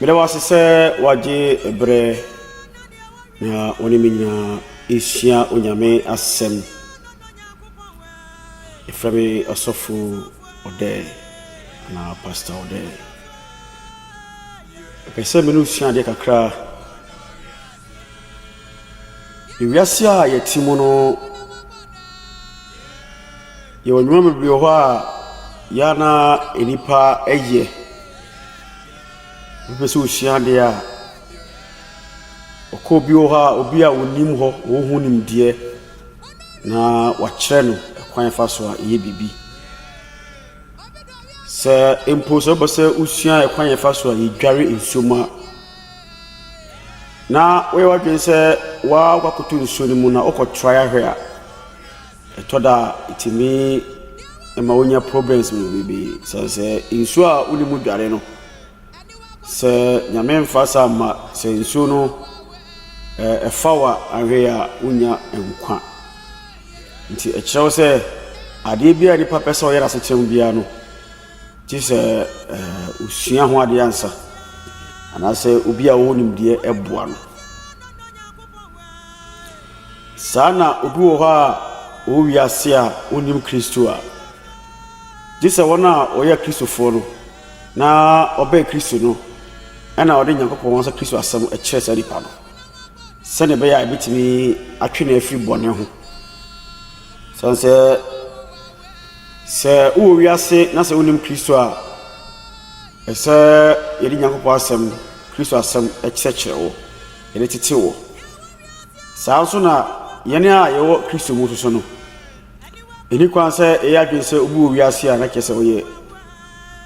Meda wo ase sɛ woagye berɛ na wo ne me nyinaa ɛresua Onyame asɛm. Yɛfrɛ me Ɔsɔfo Ɔdɛɛ anaa Pastor Ɔdɛɛ. Mepɛ sɛ me ne wo sua adeɛ kakra. Ewiase a yɛte mu no, yɛwɔ nneɛma bebree wɔ hɔ a ɛyɛ a na nnipa yɛ. Wopɛ sɛ wusua ade a, wokɔ obi hɔ a obi a onim hɔ, ɔwɔ ho nimdeɛ na wakyerɛ no kwan a ɛfa so a ɛyɛ biribi. Sɛ mpo sɛ wopɛ sɛ wusua kwan a ɛfa so a yedware nsuom a. na woyɛ w'adwene sɛ woakɔ akɔtɔ nsuo no mu na wokɔ try ahwɛ a, ɛtɔ da a ɛtumi ma wonya problems bebree. Sɛ sɛ nsuo a wone mu dware no, sɛ nyame mfa saa mma sɛ nsuo no ɛfa wo a anhwɛ a wonnya nkwa. Nti ɛkyerɛ wo sɛ adeɛ biara a nipa pɛ sɛ ɔyɛ no asetena mu biara no, Gye sɛ ɔsua ho adeɛ ansa anaasɛ obi a ɔwɔ nimdeɛ boa no. Saa na obi wɔ hɔ a ɔwɔ wiase a ɔnnim Kristo a, gye sɛ wɔn a wɔyɛ Akristofoɔ no na ɔbɛn Kristo no ɛna ɔde Nyankopɔn ankasa Kristo asɛm kyerɛ saa nipa no sɛdeɛ ɛbɛyɛ a ɛbɛtumi atwe no afiri bɔne ho. Sane sɛ Sɛ wowɔ wiase na sɛ wonnim Kristo a, ɛsɛ sɛ yɛde Nyankopɔn Asɛm, Kristo Asɛm, kyerɛkyerɛ wo, yɛde tete wo. Saa ara nso na yɛn a yɛwɔ Kristo mu nso no, ɛni kwan sɛ yɛyɛ adwene sɛ obi wɔ wiase a na kyerɛ sɛ ɔyɛ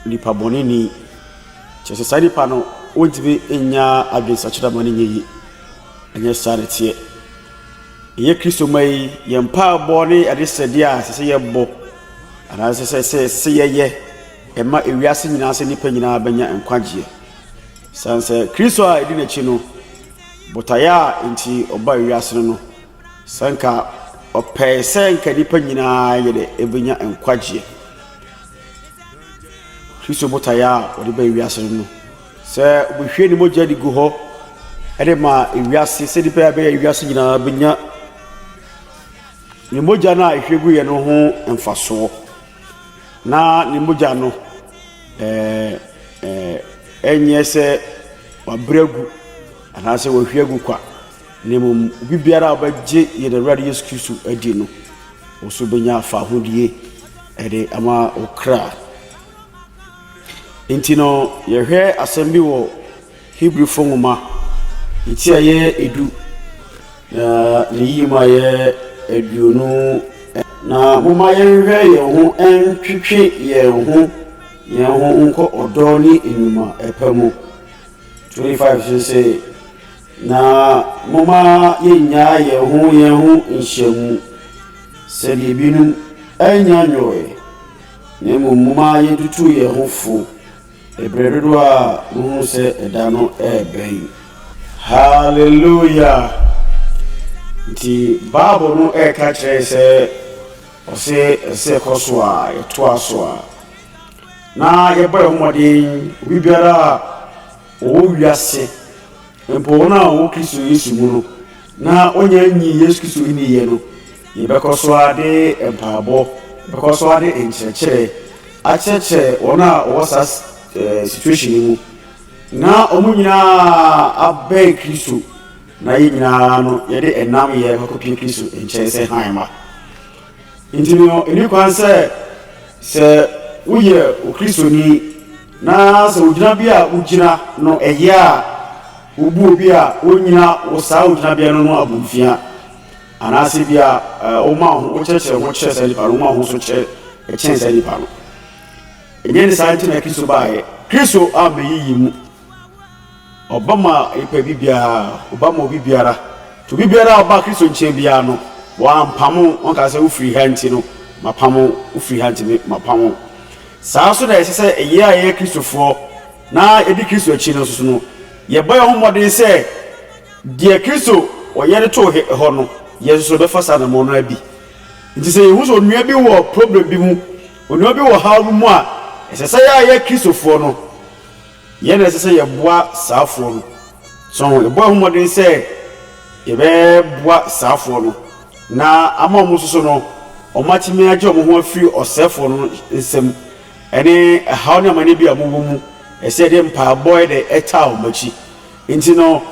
nipa bɔneni. Kyerɛ sɛ saa nipa no, wontumi nnya adwensakyera ma no nyɛ yie. Ɛnyɛ saa na ɛteɛ. Ɛyɛ Kristoma yi yɛn mpaebɔ ne adesrɛdeɛ a ɛsɛ sɛ yɛbɔ anaasɛ sɛ sɛ sɛ yɛyɛ ɛma ewiase nyinaa sɛ nnipa nyinaa bɛnya nkwagyeɛ. San sɛ Kristo a ɛdi n'akyi no, botaeɛ a nti ɔba ewiase no no, sɛ nka ɔpɛe sɛ nka nnipa nyinaa yɛ dɛ ɛbɛnya nkwagyeɛ. Kristo botaeɛ a ɔde ba ewiase no no. Sɛ wɔhwie ne mogya de gu hɔ de ma ewiase sɛdeɛ ɛbɛyɛ a ɛbɛyɛ a wiase nyinaa bɛnya ne mogya no a ɛhwie guiɛ no ho mfasoɔ na ne mogya no ɛɛ ɛɛ ɛnyɛ sɛ wabrɛ agu anaasɛ wahwie agu kwa na mmom obi biara a ɔbɛgye yɛn awurade yesu kristo adi no wo so bɛnya fahodie ɛde ama wo kra Enti no, yɛhwɛ asɛm bi wɔ Hebrifo nwoma ti a ɛyɛ edu na ne yie mu a ɛyɛ aduonu. Na momma yɛnhwɛ yɛn ho ntwetwe yɛn ho yɛn ho nkɔ ɔdɔ ne nnwuma pa mu. 25 so sɛ, na momma yɛnnyaa yɛn ho yɛn ho nhyiamu, sɛdeɛ ebinom anya nyɔɔɛ. Na mmom momma yentutu yɛn ho fo bere dodow a muhu sɛ ɛda no rebɛn. Hallelujah! Nti Bible no ɛka kyerɛ sɛ ɔsɛ ɛsɛ kɔ so a yɛtoa so a na yɛbɔ yɛn mmɔden obi biara a ɔwɔ wiase mpo wɔn a wɔwɔ Kristo Yesu mu no na wɔnyɛ nyi Yesu Kristo nni yɛ no Yɛbɛkɔ so ara de mpaebɔ, yɛbɛkɔ so ara de nkyerɛkyerɛ akyerɛkyerɛ wɔn a wɔwɔ saa situation yi mu na wɔn nyinaa abɛn Kristo na yɛn nyinaa no yɛde ɛnam yɛ bɛkɔpie Kristo nkyɛn sɛ hann ma. Nti no, ɛni kwan sɛ sɛ woyɛ okristoni na sɛ ogyina bi a wogyina no ɛyɛ a wobu obi a wonyina wɔ saa ogyinabea no no abomfia. Anaasɛ ebia woma wo ho, wokyerɛkyerɛ wo ho kyerɛ saa nipa no, woma wo ho so kyerɛ kyɛn saa nipa no. Ɛnyɛ ne saa nti na Kristo baeɛ. Kristo ammɛyɛ yɛn mu. Ɔba ma nipa bi biara, ɔba ma obi biara. Nti obi biara a ɔba Kristo nkyɛn biara no, wampamo, ɔnka sɛ wofiri ha nti no mapamo, wofiri ha nti mapamo. Saa nso na ɛsɛ sɛ yɛn a yɛyɛ Kristofoɔ na yɛdi Kristo akyi no nso no, yɛbɔ yɛn ho mmɔden sɛ Deɛ Kristo ɔyɛ de too hɔ no, yɛn nso yɛbɛfa saa anammɔn no ara bi. Enti sɛ yɛhu sɛ onua bi wɔ problem bi mu, onua bi wɔ ɔhaw bi mu a, ɛsɛ sɛ yɛn a yɛyɛ Kristofoɔ no, yɛn na ɛsɛ sɛ yɛboa saafoɔ no. So ho? Yɛbɔ yɛn ho mmɔden sɛ yɛbɛboa saafoɔ no na ama wɔn nso so no, wɔatumi agye wɔn ho afiri ɔsɛefoɔ no nsam ne ɛhaw ne amane bi a wɔwɔ mu. Ɛsɛ sɛ yɛde mpaebɔ de taa wɔn akyi. Enti no,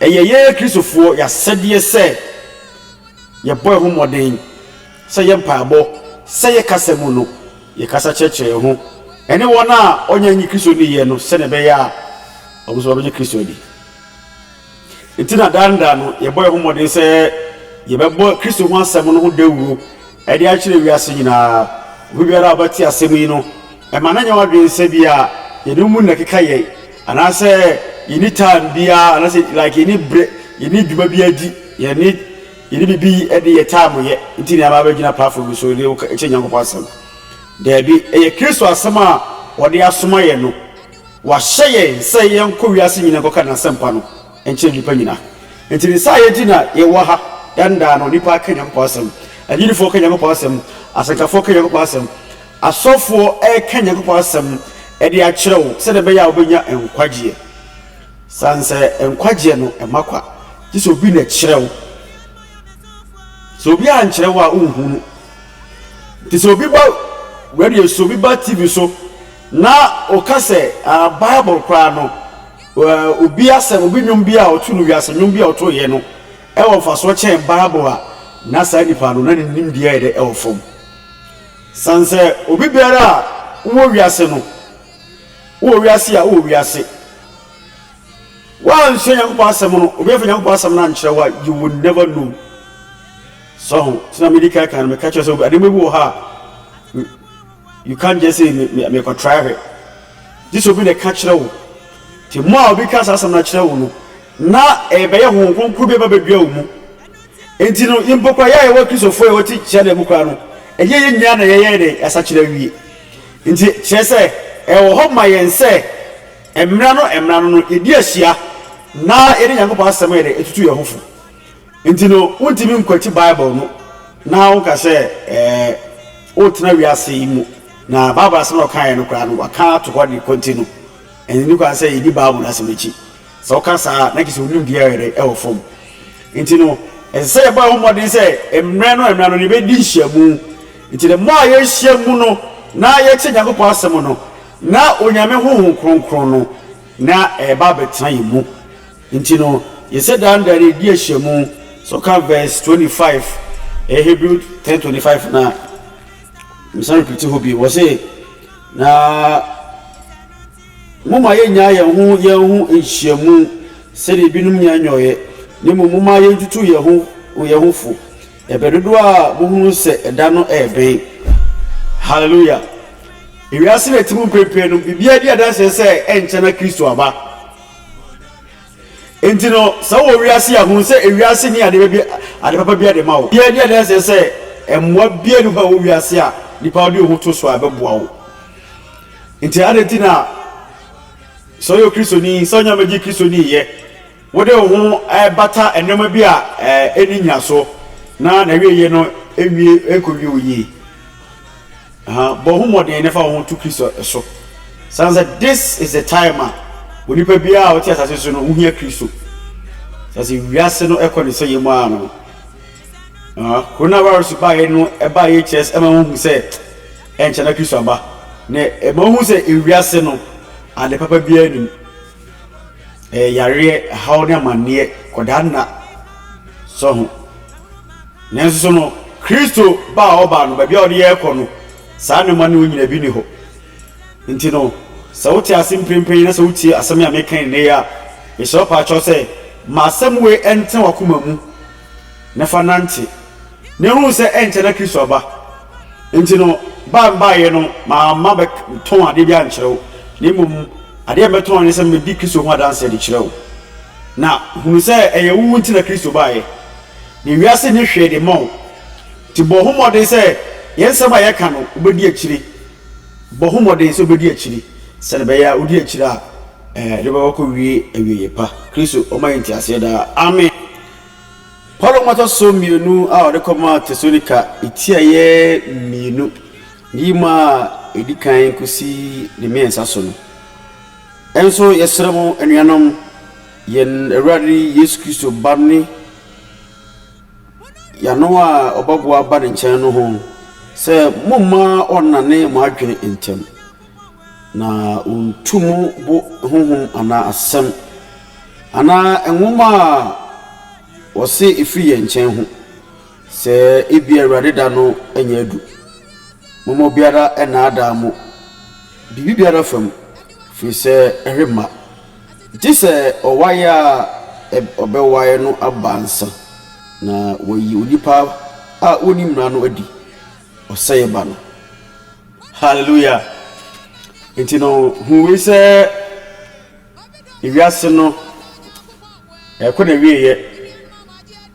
ɛyɛ yɛn Kristofoɔ yɛ asɛdeɛ sɛ yɛbɔ yɛn ho mmɔden sɛ yɛn mpaebɔ, sɛ yɛn kasa mu no, yɛkasa kyerɛkyerɛ yɛn ho ne wɔn a wɔnnya nnye Kristo nniiɛ no sɛdeɛ ɛbɛyɛ a wɔn nso wɔbɛgye Kristo adi. Enti na daa ne daa no, yɛbɔ yɛn ho mmɔden sɛ yɛbɛbɔ Kristo ho asɛm no ho dawuro Ɛde akyerɛ wiase nyinaa. Obi biara a ɔbɛte asɛm yi no, mma no nyɛ w'adwene sɛ bi a yɛde wo mu na ɛkeka yɛn, anaasɛ yɛnni time biara, anaasɛ like yɛnni berɛ, yɛnni dwuma biara di, yɛnni yɛnni biribi de yɛ time yɛ nti na yɛaba abɛgyina platform bi so de kyerɛ Nyankopɔn asɛm. Daabi, ɛyɛ Kristo asɛm a wɔde asoma yɛn no. Wɔahyɛ yɛn sɛ yɛnkɔ wiase nyinaa nkɔka N'asɛmpa no. nkyerɛ nnipa nyina. Nti ne saa yɛgye na yɛwɔ ha dan daa no nnipa ka Nyankopɔn asɛm, agyinifoɔ ka Nyankopɔn asɛm, asɛnkafoɔ ka Nyankopɔn asɛm, asɔfoɔ ɛɛka Nyankopɔn asɛm ɛde akyerɛ wo sɛdeɛ ɛbɛyɛ a wobɛnya nkwagyeɛ. Sane sɛ nkwagyeɛ no ɛma kwa, gye sɛ obi na ɛkyerɛ wo. Sɛ obi ankyerɛ wo a wonhu no. Nti sɛ obi ba radio so, obi ba TV so na ɔka sɛ ah, Bible koraa no Obi asɛm, obi nnwom bi a ɔto no, wiase nnwom bi a ɔtoeɛ no wɔ mfasoɔ kyɛn Bible a, na saa nipa no, na ne nimdeɛ yɛ dɛ, ɛwɔ fam. Sane sɛ obi biara a wowɔ wiase no, wowɔ wiase a, wowɔ wiase. Woansua Nyankopɔn asɛm no, obi amfa Nyankopɔn asɛm no ankyerɛ wo a, you will never know. So ho? Nti na mede kan kan no, meka kyerɛ wo sɛ nneɛma bi wɔ hɔ a, You can't just say me me mekɔ try hwɛ. Gye sɛ obi na ɛka kyerɛ wo. Te mu a obi ka saa asɛm no akyerɛ wo no, na ɛbɛyɛ honhom kronkron bi ɛbɛbɛdua wo mu. Enti no, mpo kora yɛ a yɛwɔ Kristofo yɛwɔ ti kyerɛ na mu kora no, ɛnyɛ yɛn nyinaa na yɛyɛ dɛ yɛasakyerɛ awie. Enti kyerɛ sɛ ɛwɔ hɔ ma yɛn sɛ mmara no mmara no no yɛdi ahyia na yɛde Nyankopɔn asɛm yɛ dɛ etutu yɛn ho fo. Enti no, wontumi nkwati Bible no na woka sɛ woretena wiase yi mu. Na Bible asɛm a ɔkaeɛ no koraa no, wɔaka ato hɔ de kɔ nti no, ɛnni kwan sɛ yɛdi Bible no asɛm akyi. Sɛ woka saa a, na kyerɛ sɛ wo nimdeɛ yɛ dɛn? Ɛwɔ fam. Enti no, ɛsɛ sɛ yɛbɔ yɛn ho mmɔden sɛ mmerɛ no mmerɛ no yɛbɛdi nhyiamu. Enti da mu a yɛhyia mu no na yɛte Onyankopɔn asɛm no, na Onyame honhom kronkron no na ɛba abɛtena yɛn mu. Nti no, yese daa no dɛn? Edi ahyiamu. So kan verse twenty five, ɛyɛ Hebrew ten twenty five na mesan repiti hɔ bi. Wɔse, na moma yɛnyaa yɛn ho yɛn ho nhyiamu sɛdeɛ ebinom nya nyɔeɛ, na mmom moma yɛntutuu yɛn ho yɛn ho fo, ɛberɛ dodoɔ a mohunu sɛ ɛda no rebɛn. Hallelujah! Ewiase na ɛte mu mprempren no, biribiara di adanseɛ sɛ ɛnkyɛ na Kristo aba. Enti no, sɛ wowɔ wiase yi a, hu sɛ wiase nni ade pa bi ade papa biara de ma wo. Yɛadi adanseɛ sɛ mmoa biara nni hɔ a ɛwɔ wiase a nnipa de wɔn ho to so a ɛbɛboa wo. Enti adɛn nti na sɛ woyɛ Kristoni, sɛ wonya bɛgye Kristoni yɛ, wode wo ho bata nneɛma bi a ɛnni nnyinasoɔ na n'awieeɛ no nwie nkɔwie wo yie? Aha, bɔ ho mmɔden na fa wo ho to Kristo so. San sɛ, this is the time a onipa biara a ɔte asase so no ho hia Kristo. San sɛ, wiase no kɔ ne sɛeɛ mu ara no. Aha, coronavirus baeɛ no baeɛ kyerɛ ɛma wohu sɛ ɛnkyɛ na Kristo aba. Na ɛma wohu sɛ ewiase no ade papa biara nim. Ɛyɛ yareɛ, haw ne amanneɛ, kɔdaa nna. Sɔ ho. Nanso so no Kristo ba a ɔba no, baabi a ɔde yɛn rekɔ no, saa nneɛma no nyina bi nni hɔ? Nti no, sɛ wote ase mprempren yi na sɛ wotie asɛm yi a meka yi nnɛ yi a, mesrɛ wo paa kyɛw sɛ, Ma asɛm wei ɛntena w'akoma mu, na fa nante, na hu sɛ ɛnkyɛ na Kristo aba. Nti no, ba a mebaeɛ no, mamma mɛtɔn adeɛ biara nkyerɛ wo, na mmom adeɛ a mɛtɔn ne sɛ mɛdi Kristo ho adanseɛ de kyerɛ wo. Na hunu sɛ ɛyɛ wo nti na Kristo baeɛ. Na wiase nyɛ hwee de mma wo. Nti bɔ ho mmɔden sɛ yɛn nsɛm a yɛka no, wobɛdi akyire. Bɔ ho mmɔden sɛ wobɛdi akyire, sɛdeɛ ɛbɛyɛ a wodi akyire a, ɛde bɛma woakɔwie awieeɛ pa. Kristo ɔma yɛn nteaseɛ daa. Amen. Paulo nwoma ɛtɔ so mmienu a ɔde kɔmaa Tesalonika tiaeɛ mmienu, ne yi mu a ɛdi kan kɔsi ne mmiɛnsa so no. Ɛnso yɛsrɛ mo anuanom, yɛn Awurade Yesu Kristo Ba ne Yano a ɔbaboa ba ne nkyɛn no ho sɛ, Mommma ɔnnane mo adwene ntɛm, na ɔntu mo bo honhom anaa asɛm anaa nwoma a wɔse ɛfiri yɛn nkyɛn ho, sɛ ebia Awurade da no anya adu. Momma obiara nnaadaa mo biribiara fa mu, ɛfiri sɛ ɛremma. Gye sɛ ɔwaeɛ a ɔbɛwae no aba ansa na wɔayi onipa a ɔnni mmara no adi, ɔsɛeɛ ba no. Hallelujah! Nti no, hu wei sɛ ewiase no ɛkɔ na wieɛ,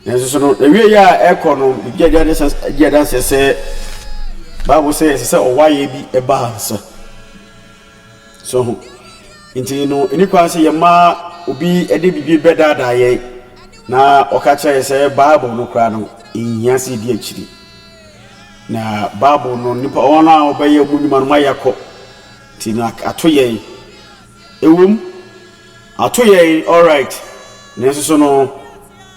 nanso so no wieɛ a ɛkɔ no gye adanseɛ sɛ Bible sɛ ɛsɛ sɛ ɔwaeɛ bi ba ansa. So ho. Nti no, ɛni kwan sɛ yɛma obi de biribi bɛdaadaa yɛn na ɔka kyerɛ yɛn sɛ Bible no koraa no, nhia sɛ yɛdi akyiri. Na Bible no, nipa wɔn a wɔbɛyɛ wɔn nnwuma no ma yɛakɔ. Nti no, ato yɛn. Ɛwom, ato yɛn all right. Nanso so no,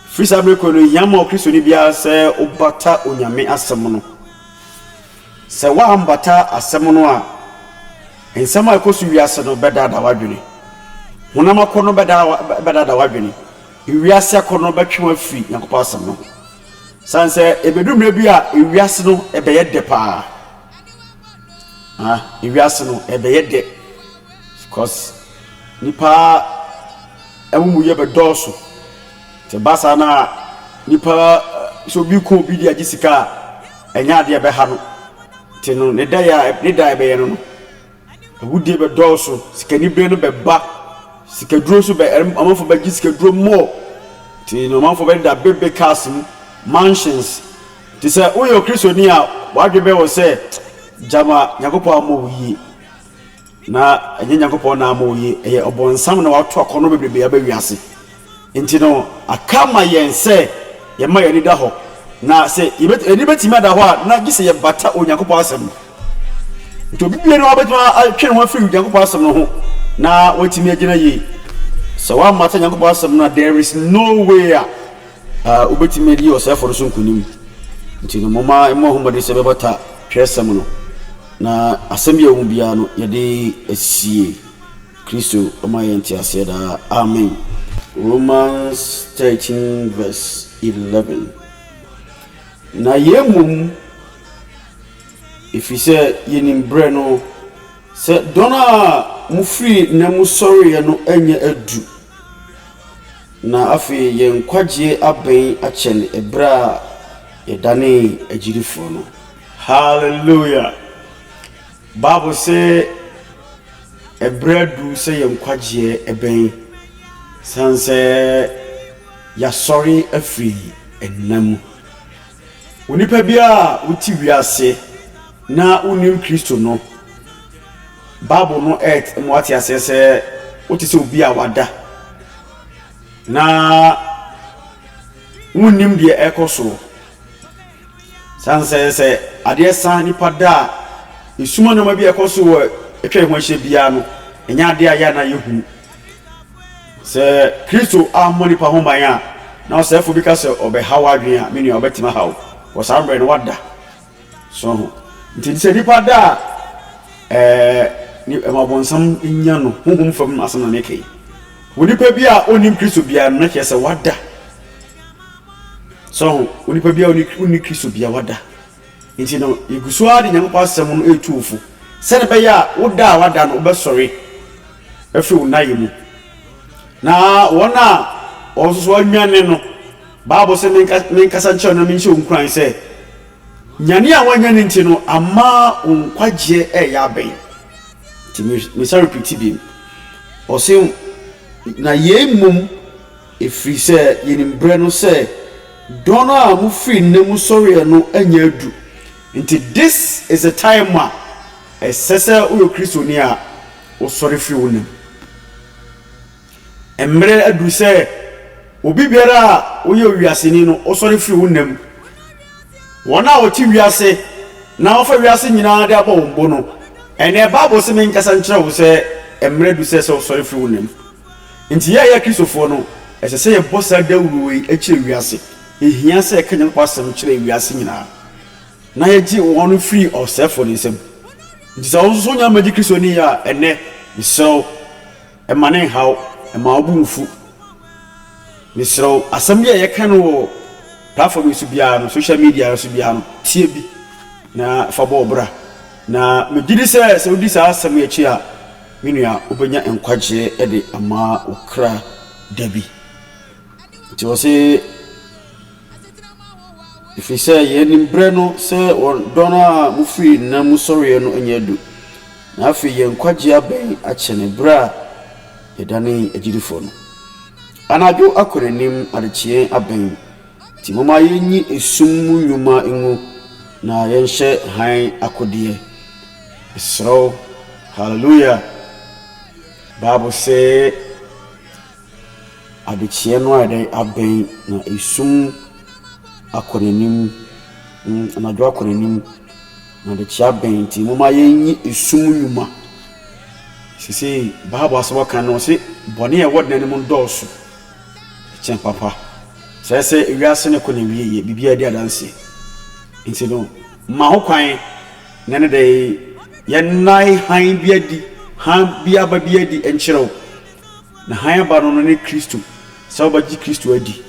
firi saa bere kɔ no, ehia ma Kristoni biara sɛ ɔbata Onyame asɛm no. Sɛ woammata asɛm no a, nsɛm a ɛkɔ so wiase no bɛdaadaa w'adwene. Honam akɔnnɔ no bɛdaadaa w'adwene. Wiase akɔnnɔ no bɛtwe wo afiri Nyankopɔn Asɛm no ho. Esiane sɛ ebedu mmere bi a wiase no bɛyɛ dɛ paa. Aa, wiase no ɛbɛyɛ dɛ cause nnipa amumuyɛ bɛdɔɔso. Sɛ ɛba saa na nipa, sɛ obi rekɔ obi de agye sika a, ɛnyɛ adeɛ a ɛbɛha no. Nti no, ne daeɛ a, ne da a ɛbɛyɛ no no, awudie bɛdɔɔso, sikanibere no bɛba, sikaduro nso bɛ, ɛrem, amanfoɔ bɛgye sikaduro more. Nti no, amanfoɔ bɛdeda big big cars mu, mansions. Nti sɛ woyɛ Okristoni a, w'adwene bɛyɛ wo sɛ, gyama, Nyankopɔn ammɔ wo yie. Na ɛnyɛ Nyankopɔn na ama oye, ɛyɛ ɔbonsam na wato akɔnnɔ bebrebe aba wiase. Enti no, aka ama yɛn sɛ yɛmma yɛn ani da hɔ. Na sɛ yebetumi, yɛn ani betumi ada hɔ a, na gye sɛ yɛbata Onyankopɔn asɛm no. Enti obi biara hɔ betumi atwe ne ho afiri Onyankopɔn asɛm no ho na watumi agyina yie. Sɛ woammata Onyankopɔn asɛm no a, there is no way a wobetumi adi ɔsɛefo no so nkonim. Enti no, momma yɛmmɔ ho mmɔden sɛ yɛbɛbata Twerɛsɛm no. Na asɛm bi a ɛwɔ mu biara no, yɛde asie. Kristo ma yɛn nteaseɛ daa. Amen. Romans thirteen verse eleven. Na yei mmom, ɛfiri sɛ yɛnim berɛ no, sɛ dɔn a mofirii nna mu sɔreeɛ no anya adu, na afei yɛn nkwagyeɛ abɛn akyɛne ɛberɛ a yɛdanee agyidifoɔ no. Hallelujah! Bible se ɛberɛ adu sɛ yɛn nkwagyeɛ ɛbɛn, sane sɛ yɛasɔre afiri nna mu. Onipa biara a wote wiase na wonnim Kristo no, Bible no ɛɛt ma wate aseɛ sɛ wote sɛ obi a wada, na wonnim deɛ ɛrekɔ soɔ. San sɛ sɛ adeɛ sa nipa da a, esum nneɛma bi a ɛkɔ so wɔ atwa yɛn ho ahyia biara no, ɛnyɛ adeɛ a yɛ a na yɛhunu. Sɛ Kristo ammɔ nipa ho ban a, na ɔsɛefo bi ka sɛ ɔbɛha w'adwene a, me nua, ɔbɛtumi ahaw wo. Wɔ saa mmerɛ no, wada. So ho. Nti sɛ nipa da a, ɛɛ, ɛma ɔbɔnsam nya no. Honhom fam asɛm na meka yi. Onipa bi a ɔnnim Kristo biara no, na kyerɛ sɛ wada. So woahu? Onipa biara nni, wonni Kristo biawa da. Enti no, yegu so ara de Nyankopɔn asɛm no retu wo fo, sɛnea ɛbɛyɛ a wo da a woada no, wobɛsɔre afiri wo nnayɛ mu. Na wɔn a wɔn nso so wɔanwane no, Bible sɛ menka, menkasa nkyerɛ wo na menhyɛ wo nkuran sɛ, nyane a woanya no nti no, ama wo nkwagyeɛ ɛreyɛ abɛn. Nti me, mesan repiti bi, ɔse, na yei mmom Ɛfiri sɛ yɛnim berɛ no sɛ dɔn no a mofiri nna mu sɔreɛ no anya adu. Nti this is the time a ɛsɛ sɛ woyɛ Kristoni a wosɔre firi wo nna mu. Mmerɛ aduru sɛ obi biara a woyɛ owiaseni no wosɔre firi wo nna mu. Wɔn a wɔte wiase na wɔfa wiase nyinaa de abɔ wɔn bo no, ɛnnɛ Bible se menkasa nkyerɛ wo sɛ mmerɛ adu sɛ sɛ wosɔre firi wo nna mu. Enti yɛn a yɛyɛ Kristofoɔ no, ɛsɛ sɛ yɛbɔ saa dawuro wei kyerɛ wiase. Ɛhia sɛ yɛka Nyankopɔn asɛm kyerɛ wiase nyinaa, na yɛgye wɔn firi ɔsɛefoɔ no nsam. Enti sɛ wo nso wonya mmɛgye Kristo ni a, ɛnnɛ, mesrɛ wo, mma ne nnha wo, mma wo bo mmfu. Mesrɛ wo, asɛm bi a yɛka no wɔ platform yi so biara no, social media no so biara no, tie bi na fa bɔ wo bra. Na megye di sɛ, sɛ wodi saa asɛm yi akyi a, Me nua, wobɛnya nkwagyeɛ de ama wo kra da bi. Nti ɔse, ɛfiri sɛ yɛn nim berɛ no sɛ wɔn dɔ no a mofiri nna mu sɔreɛ no anya adu, na afei yɛn nkwagyeɛ abɛn akyɛne berɛ a yɛdanee agyidifoɔ no. Anadwo akɔ n'anim, adekyeɛ abɛn. Nti momma yɛnyi esum mu nnwuma ngu na yɛnhyɛ hann akodeɛ. Mesrɛ wo, Hallelujah! Bible se adekyeɛ no ayɛ dɛ abɛn na esum akɔ n'anim, mm, anadwo akɔ n'anim na adekyeɛ abɛn. Nti momma yɛnyi esum mu nnwuma. Seesei Bible asɛm a ɔka no, ɔse bɔne a ɛwɔ dan no mu dɔɔso. Ɛkyɛn papa. Kyerɛ sɛ wiase no kɔ n'awieeɛ, biribiara di adanseɛ. Nti no, ma ho kwan na ne dɛ yɛnnae hann bi adi, hann bi aba bi adi nkyerɛ wo. Na hann aba no no ne Kristo, sɛ wobɛgye Kristo adi.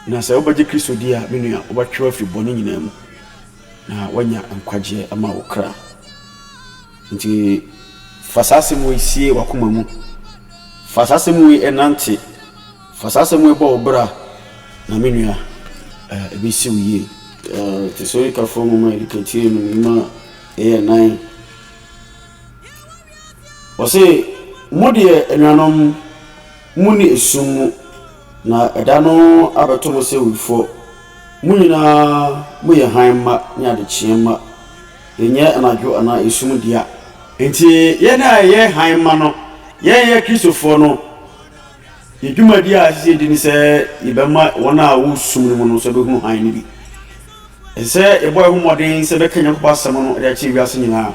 Na sɛ wobɛgye Kristo di a, me nua, wobɛtwe wafiri bɔne nyinaa mu na woanya nkwagyeɛ ama wo kra. Nti fa saa asɛm wei sie w'akoma mu, fa saa asɛm wei nante, fa saa asɛm wei bɔ wo bra, na me nua, ɛbɛsi wo yie. Tesorikafoɔ nwoma a ɛdikati yɛ num nwuma a ɛyɛ nnan. Wɔse, Mo deɛ, anuanom, monni esum mu, na ɛda no abɛto mo sɛ awifoɔ. Mo nyinaa moyɛ hann mma ne adekyeɛ mma. Yɛnyɛ anadwo anaa esum dea. Enti, yɛn a yɛyɛ hann ma no, yɛnyɛ Kristofoɔ no, yɛn dwumadie a ɛsɛ sɛ yɛdi ne sɛ yɛbɛma wɔn a wɔwɔ sum no mu no nso abɛhunu hann no bi. Ɛsɛ sɛ yɛbɔ yɛn ho mmɔden sɛ yɛbɛka Onyankopɔn asɛm no de akyerɛ wiase nyinaa.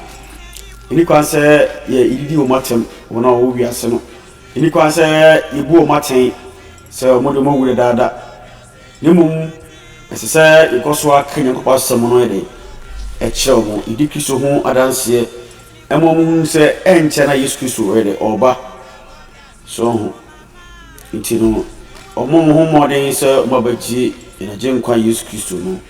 Ɛnni kwan sɛ yɛdidi wɔn atɛm, wɔn a wɔwɔ wiase no. Ɛnni kwan sɛ yɛbu wɔn atɛn sɛ wɔde wɔn awu dadaada. Na mmom ɛsɛ sɛ yɛkɔ so ara ka Onyankopɔn asɛm no de kyerɛ wɔn, yɛdi Kristo ho adanseɛ ma wɔhunu sɛ ɛnkyɛ na Yesu Kristo ɔyɛ dɛ ɔreba. So ho nti no, wɔn wɔn ho mmɔden sɛ wɔabɛgye yɛn Agyenkwa Yesu Kristo no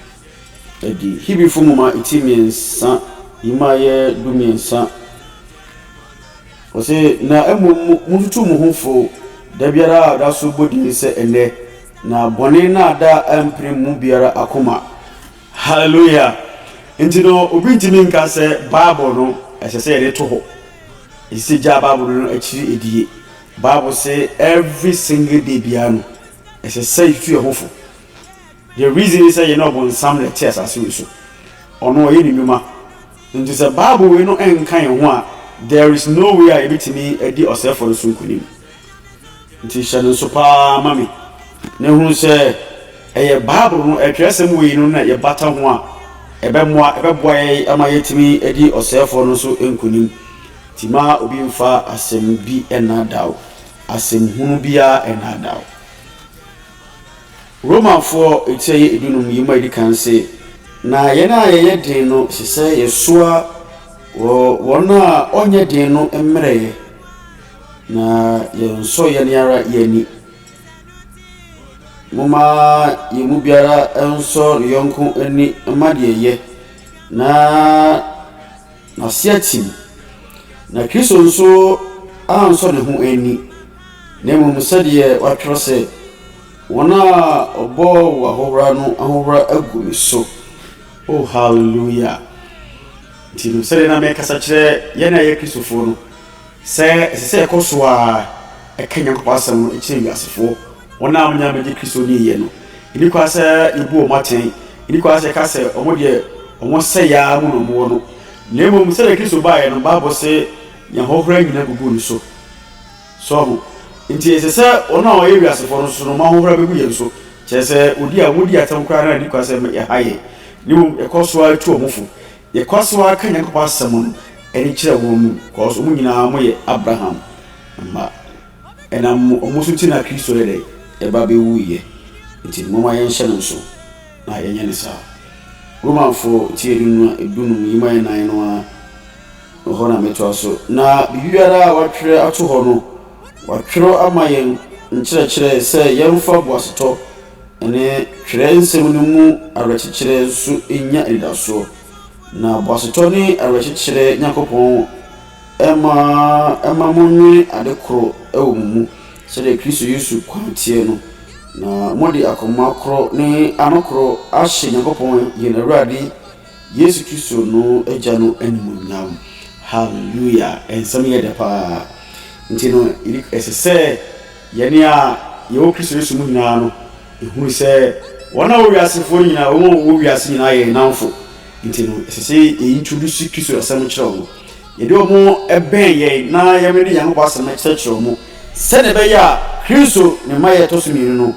adi. Hebrifo nwoma ti mmiɛnsa yi mu ayɛ du mmiɛnsa. Wɔsɛ na mmom montutu mo ho fo da biara a ɔda so bɔ din sɛ ɛnɛ. Na bɔne nnaadaa ampirim mu biara akoma. Hallelujah! Nti no, obi ntumi nka sɛ Bible no ɛsɛ sɛ yɛde to hɔ. Ɛsɛ sɛ gyaa Bible no no akyiri edie. Bible se every single day biara no ɛsɛ sɛ yɛtutu yɛn ho fo. The reason is sɛ yɛne ɔbonsam na ɛte asase wei so. Ɔno ɔyɛ ne nnwuma. Nti sɛ Bible wei no nka yɛn ho a, there is no way a yɛbɛtumi adi ɔsɛefoɔ no so nkonim. Enti hyɛ no nso paa ma me, na hunu sɛ ɛyɛ Bible no atwerɛsɛm wei no na yɛbata ho a, ɛbɛmmoa ɛbɛboa yɛn ama yɛatumi adi ɔsɛefoɔ no so nkonim. Nti ma obi mfa asɛm bi nnaadaa wo, asɛm hunu biara nnaadaa wo. Romafoɔ etire yɛ edunum yi mu a ɛdi kan se, Na yɛn a yɛyɛ den no, ɛsɛ sɛ yɛsoa wɔn a wɔnyɛ den no mmerɛyɛ. Na yɛnsɔ yɛn ara yɛn ani. Momma yɛn mu biara nsɔ ne yɔnko ani mma deɛ ɛyɛ na n'ase atim. Na Kristo nso ansɔ ne ho ani, na mmom sɛdeɛ wɔatwerɛ sɛ, Wɔn a wɔbɔɔ wo ahohora no ahohora agu me so. O hallelujah! Nti sɛdeɛ na mekasa kyerɛ yɛn a yɛyɛ Kristofoɔ no, Sɛ ɛsɛ sɛ yɛkɔ so ara ka Nyankopɔn asɛm no kyerɛ wiasefo, wɔn a wɔnnya mmegye Kristo nni ɛ no, enni kwan sɛ yebu wɔn atɛn. Enni kwan sɛ yɛka sɛ wɔn deɛ, wɔn sɛe ara mu na wɔwɔ no. Na mmom, sɛnea Kristo baeɛ no, Bible se, Yɛahohoro anyina agugu no so. So woahu? Enti ɛsɛ sɛ wɔn a wɔyɛ wiasefo no nso no, wɔahohoro abegu yɛn so, kyerɛ sɛ, wɔdi a wodi atɛm koraa no a enni kwan sɛ ɛhae yɛn. Na mmom, yɛkɔ so ara tu wɔn fo. Yɛkɔ so ara ka Nyankopɔn asɛm no de kyerɛ wɔn mu cause wɔn nyinaa wɔyɛ Abraham mma. Ɛnam wɔn so nti na Kristo yɛ dɛn? Ɛba bɛwuiɛ. Nti momma yɛnhyɛ no nso na yɛnyɛ no saa. Romanfoɔ ti adunum dunum yi mu ɛyɛ nan no ara no hɔ na mɛtoa so. Na biribiara a wɔatwerɛ ato hɔ no wɔatwerɛ ama yɛn nkyerɛkyerɛ sɛ yɛmfa boasetɔ ne Twerɛnsɛm no mu awerɛkyekyerɛ nso nya anidasoɔ. Na boasetɔ ne awerɛkyekyerɛ Nyankopɔn mma mma monnwene ade korɔ wɔ mo mu sɛdeɛ Kristo Yesu kwan teɛ no, na mode akoma korɔ ne ano korɔ ahyɛ Nyankopɔn yɛn Awurade Yesu Kristo no Agya no animuonyam. Hallelujah! Nsɛm yɛ dɛ paa. Nti no, ɛsɛ sɛ. Yɛne a yɛwɔ Kristo Yesu mu nyinaa no, yɛhunu sɛ wɔn a wɔyɛ wiasefoɔ no nyinaa, wɔn a wɔwɔ wiase nyinaa yɛ yɛn nnamfo. Enti no, ɛsɛ sɛ yɛ introduce Kristo asɛm kyerɛ wɔn. Yɛde wɔn bɛn yɛn na yɛmene Nyankopɔn asɛm kyerɛkyerɛ wɔn, sɛdeɛ ɛbɛyɛ a Kristo ne mma yɛ ɛtɔ so mmienu no,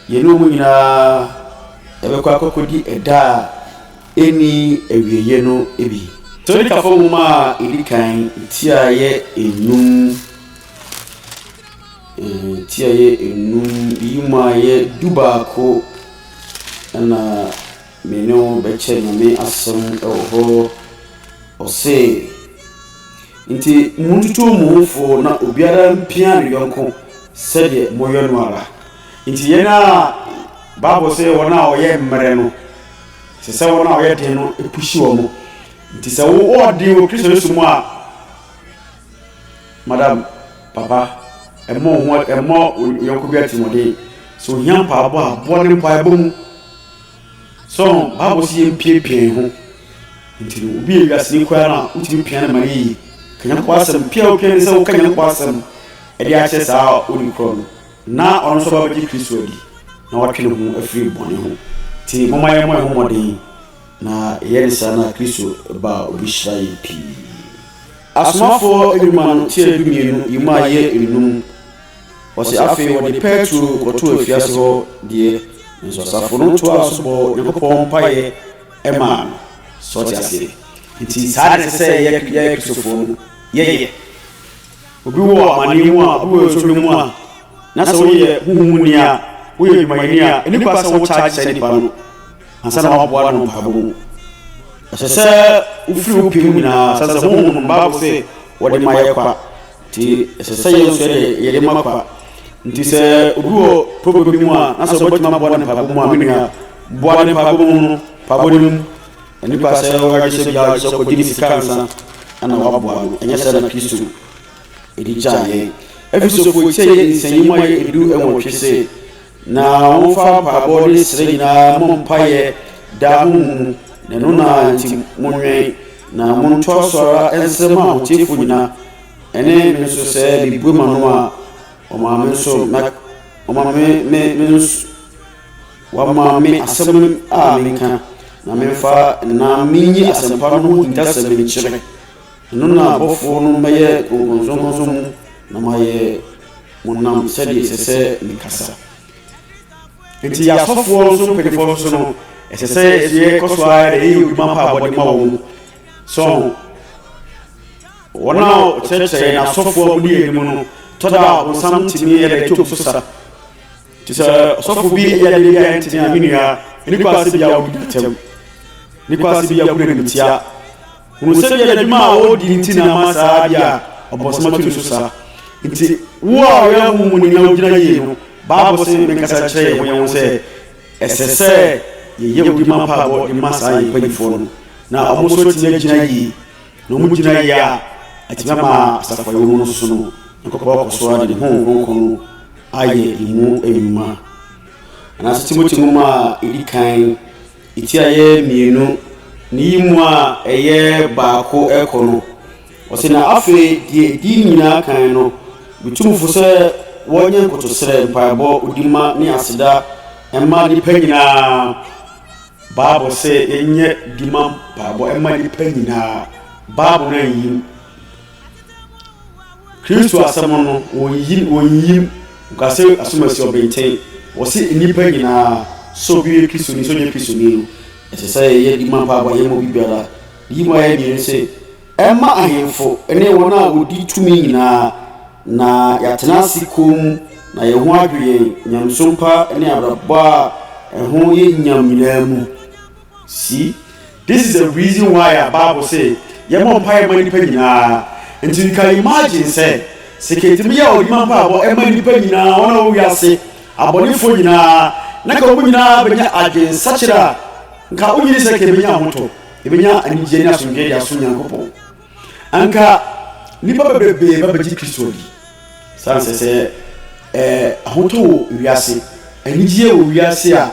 yɛne wɔn nyinaa yɛbɛkɔ akɔkɔdi ɛda a ɛnni awieɛ no bi. Tesalonikafoɔ Nwoma a Ɛdi Kan ti a ɛyɛ nnum. Ti a ɛyɛ nnum yi mu a ɛyɛ dubaako na me ne wo bɛkyɛ Nyame asɛm wɔ hɔ. Ɔse, nti montutu mo ho fo na obiara mpia ne yɔnko sɛdeɛ moyɛ no ara. Nti yɛn a Bible sɛ wɔn a wɔyɛ mmerɛ no, sɛ sɛ wɔn a wɔyɛ den no puhyi wɔn. Nti sɛ wo ɔɔden wɔ Kristo Yesu mu a, Madam, papa, mmɔ wo ho mmɔ wo yɔnko bi atirimmɔden. Sɛ ohia mpaebɔ a, boa no mpaebɔ mu. So Bible se yɛmpiapia yɛn ho? Nti no, obi yɛ wiaseni koraa no a, wotumi pia no ma no yɛ yie. Ka Nyankopɔn asɛm. Pia a wopia ne sɛ woka Nyankopɔn asɛm de akyerɛ saa a ɔnni korɔ no, na ɔno nso ɔba bɛgye Kristo adi, na watwe ne ho afiri bɔne ho. Nti momma yɛmmɔ yɛn ho mmɔden, na yɛyɛ ne saa no a, Kristo ba a, obehyira yɛn pii. Asomafoɔ nnwuma no ti a dumienu yi mu ayɛ nnum, ɔse afei wɔde pɛɛtro kɔtoo afiase hɔ deɛ, nanso asafo no toaa so bɔɔ Onyankopɔn mpaeɛ maa no. So ɔte aseɛ? Enti saa na ɛsɛ sɛ yɛ yɛ Kristofoɔ no yɛyɛ. Obi wɔ amaneɛ mu a, obi wɔ nsɔhwɛ mu a, na sɛ woyɛ honhom mu ni a, woyɛ adwumayɛni a, ɛni kwa sɛ wo charge saa nipa no Ansa na woaboa no mpaebɔ mu, ɛsɛ sɛ wofiri wo pɛ mu nyinaa sa sɛ, Honhom no, Bible se wɔde ma yɛ kwa, nti ɛsɛ sɛ yɛn nso yɛde yɛde ma kwa. Nti sɛ obi wɔ problem bi mu a, na sɛ wobɛtumi aboa ne mpaebɔ mu a, me nua, boa ne mpaebɔ mu no, mpaebɔ no mu. Nnipa sɛ wɔyɛ sɛ biara gye sɛ ɔkɔgye ne sika ansa na waboa no, ɛnyɛ sɛ na Kristo ɛde gyaa yɛn. Efesofoɔ ti a yɛ nsɛnyɛ mu a yɛ edu ɛwɔtwe se, Na momfa mpaebɔ ne srɛ nyinaa mmɔ mpaeɛ daa honhom mu, na ɛno na nti monwɛn, na montoa so ara nsrɛ ma ahoteefoɔ nyinaa, ɛne me nso sɛ mebue m'ano a, wɔma me nso, na wɔma me, me, me nso, wɔama me asɛm a menka, na memfa nna menyi asɛmpa no ho hintasɛm nkyerɛ. Ɛno na abɔfoɔ no mɛyɛ nkɔnsɔnkɔnsɔn mu na mayɛ mo nam sɛdeɛ ɛsɛ sɛ mekasa. Nti yɛ asɔfoɔ nso mpanimfoɔ nso no, ɛsɛ sɛ yɛsɛ kɔ so ara yɛ odwuma pa a wɔde ma wɔn mu. So wɔn a wɔkyerɛkyerɛ yɛn asɔfoɔ a wɔdi yɛn anim no tɔ da a ɔbonsam tumi yɛ dɛ twom so sa. Nti sɛ ɔsɔfo bi yɛ adeɛ bi a ɛntene a me nua, nnipa ase bi a wɔdi atɛm, nnipa ase bi a wɔgu n'animtia. Hunu sɛdeɛ n'adwuma a ɔredi nti na ama saa adeɛ a ɔbonsam atu ne so saa. Nti, wo a ɔyɛ ahonhom muni na wogyina yie no, Bible se menkasa nkyerɛ yɛn ho yɛn ho sɛ, ɛsɛ sɛ yɛyɛ odi ma mpaebɔ de ma saa yɛn mpanimfoɔ no, na wɔn nso atumi agyina yie. Na wɔn gyina yie a, atumi ama asafo a yɛwɔ mu no nso no, Nyankopɔn akɔ so ara de ne Honhom Kronkron no ayɛ yɛn mu nnwuma. Anaasɛ Timoteo nwoma a ɛdi kan. Itiayɛ mmienu, ne yi mu a ɛyɛ baako rekɔ no, ɔse, Na afei, deɛ ɛdi ne nyinaa kan no, metu mo fo sɛ wɔnyɛ nkotosrɛ, mpaebɔ, odimma ne aseda mma nnipa nyinaa. Bible se yɛnyɛ dimma mpaebɔ mma nnipa nyinaa. Bible no anyi mu. Kristo asɛm no, wɔnyi, wɔnyim. Wɔka sɛ asomasi ɔbenten. Wɔse nnipa nyinaa, sɛ obi yɛ Kristoni, sɛ ɔnyɛ Kristoni no, ɛsɛ sɛ yɛyɛ de ma mpaebɔ, yɛmma obi biara. Ne yi mu ayɛ den no se, ɛmma ahemfo ne wɔn a wɔdi tumi nyinaa, na yɛatena ase komm, na yɛn ho adwo yɛn, nyamesom pa ne abrabɔ a ɛho yɛ nyam nyinaa mu. See? This is the reason why a bible se yɛmmɔ mpaeɛ ma nnipa nyinaa, nti you can imagine sɛ sɛ ka ɛtumi yɛ a ɔde ma mpaebɔ ma nnipa nyinaa wɔn a wɔ wiase abɔnefoɔ nyinaa na nka wɔn nyinaa bɛnya adwensakyera a nka wonyini sɛ ka ɛbɛnya ahoto, ɛbɛnya anigyeɛ ne asomdwoeɛ de asom Nyankopɔn. Anka nnipa bebrebe ba begye Kristo adi. San sɛ sɛ ɛɛ ahotɔ wɔ wiase, anigyeɛ wɔ wiase a,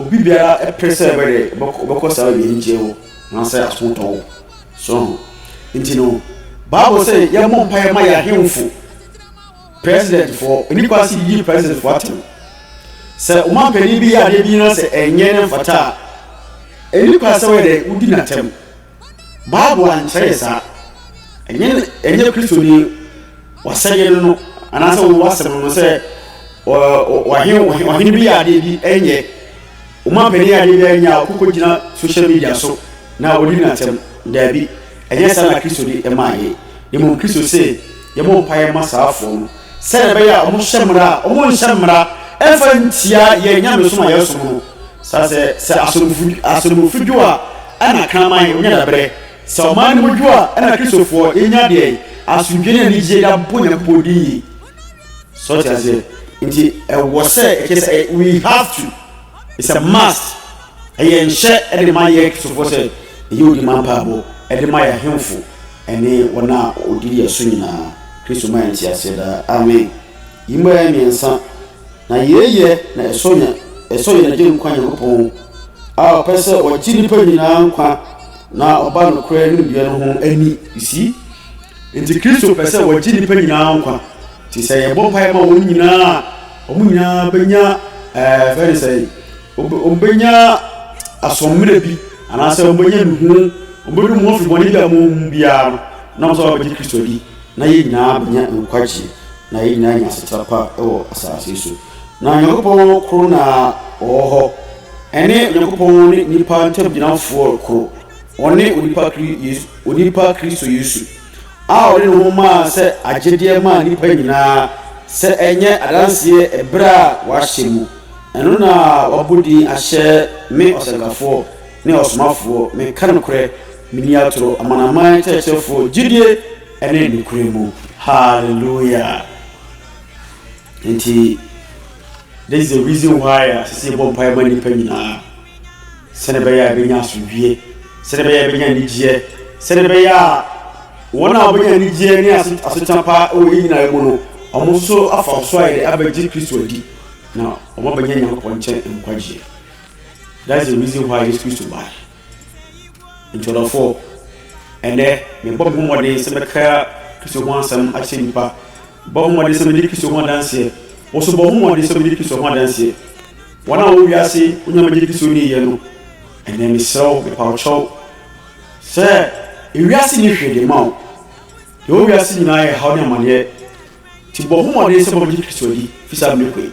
obi biara ɛpere sɛ ɛbɛ dɛ ɔbɛkɔ ɔbɛkɔ saa baabi anigyeɛ wɔ anaasɛ ahotɔ wɔ. So ho nti no Bible sɛ yɛmmɔ mpaeɛ ma yɛn ahemfo, president foɔ, ɛni kwan sɛ yɛyi president foɔ atɛm. Sɛ ɔmanpanin bi yɛ adeɛ bi na sɛ ɛnyɛ na ɛmfata a, ɛni kwan sɛ wɔyɛ dɛ wodi n'atɛm. Bible ankyerɛ yɛ saa. Ɛnyɛ ɛnyɛ Kristoni wasɛdeɛ no no anaasɛ wɔn wasɛm no sɛ ɔhene ɔhene bi yɛ adeɛ bi ɛnyɛ wɔn apanyin yɛ adeɛ bi ɛnyɛ a ɔkoko gyina social media so na wɔdi na ntɛm daabi ɛnyɛ saa na Kristoni ɛma yɛ na mmom Kristo sɛ yɛbɔ mpaeɛ ma saa afoɔ no. sɛdeɛ ɛbɛyɛ a wɔhyɛ mmara a wɔnhyɛ mmara mfa ntia yɛn nyamesom a yɛsom no. Saa sɛ, sɛ asomfo asomfo dwo a, ɛna kraman ɔnya dabrɛ. Sɛ ɔman no mu dwo a, ɛna Kristofoɔ yɛnya deɛ asomdwoeɛ ne anigyeɛ de abɔ Nyankopɔn din yie. So ɔte aseɛ? Nti ɛwɔ sɛ, ɛkyɛ sɛ, we have to, it's a must. Ɛyɛ nhyɛ de ma yɛn Kristofo sɛ yɛnyɛ odi mma mpaebɔ de ma yɛn ahemfo ne wɔn a wɔdi yɛn so nyinaa. Kristo ma yɛn nteaseɛ daa. Amen. Yi mmaeɛ mmiɛnsa, na yei yɛ na ɛsɔ yɛn ɛsɔ yɛn Agyenkwa Nyankopɔn a ɔpɛ sɛ ɔgye nnipa nyinaa nkwa na ɔba nokorɛ nimdeɛ no ho ani. You see? Enti Kristo pɛ sɛ ɔgye nnipa nyinaa nkwa. Enti sɛ yɛbɔ mpaeɛ ma wɔn nyinaa a, wɔn nyinaa bɛnya ɛɛ fɛ ne sɛn? Wɔbɛnya asoɔmmerɛ bi, anaasɛ wɔbɛnya nuhu, wɔbɛnu wɔn afiri bɔne bi a wɔwɔ mu biara no, na wɔsɛ wɔbɛgye Kristo adi, na yɛn nyinaa bɛnya nkwagyeɛ, na yɛn nyinaa anya asetra pa wɔ asase so. Na Onyankopɔn koro na ɔwɔ hɔ, ɛne Onyankopɔn ne nnipa ntamgyinafoɔ koro, ɔne onipa Kristo Yesu. a ɔde ne ho maa sɛ agyedeɛ maa nnipa nyinaa sɛ ɛnyɛ adanseɛ ɛberɛ a wɔahyɛ mu, ɛno na wɔabɔ din ahyɛ me ɔsɛnkafoɔ ne ɔsomafoɔ, meka nokorɛ, menni atorɔ, amanaman kyerɛkyerɛfoɔ gyidie ne nokorɛ mu. Hallelujah! Enti this is the reason why a ɛsɛ sɛ yɛbɔ mpaeɛ ma nnipa nyinaa sɛdeɛ ɛbɛyɛ a ɛbɛnya asomdwie sɛdeɛ ɛbɛyɛ a ɛbɛnya anigyeɛ sɛdeɛ ɛbɛyɛ a wɔn a wɔbɛnya anigyeɛ ne asetena pa wɔ yɛ nyinaa mu no wɔn nso afa so a yɛde abɛgye kristo adi na wɔabɛnya nyankopɔn nkyɛn nkwagyeɛ that's the reason why yesu kristo bae Enti ɔdɔfo, ɛnnɛ mebɔ me ho mmɔden sɛ mɛka Kristo ho asɛm akyerɛ nnipa. Mebɔ me ho mmɔden sɛ mɛdi Kristo ho adanseɛ. Wo nso bɔ wo ho mmɔden sɛ wobɛdi Kristo ho adanseɛ. Wɔn a wɔwɔ wiase wonya mɛgye Kristo ni yɛ no, ɛnnɛ mesrɛ wo, mepa wo kyɛw sɛ ewiase nni hwee de ma wo. Deɛ ɛwɔ wiase nyinaa yɛ haw ne amaneɛ. Nti bɔ wo ho mmɔden sɛ wobɛgye Kristo adi fi saa mmerɛ kɔ yi.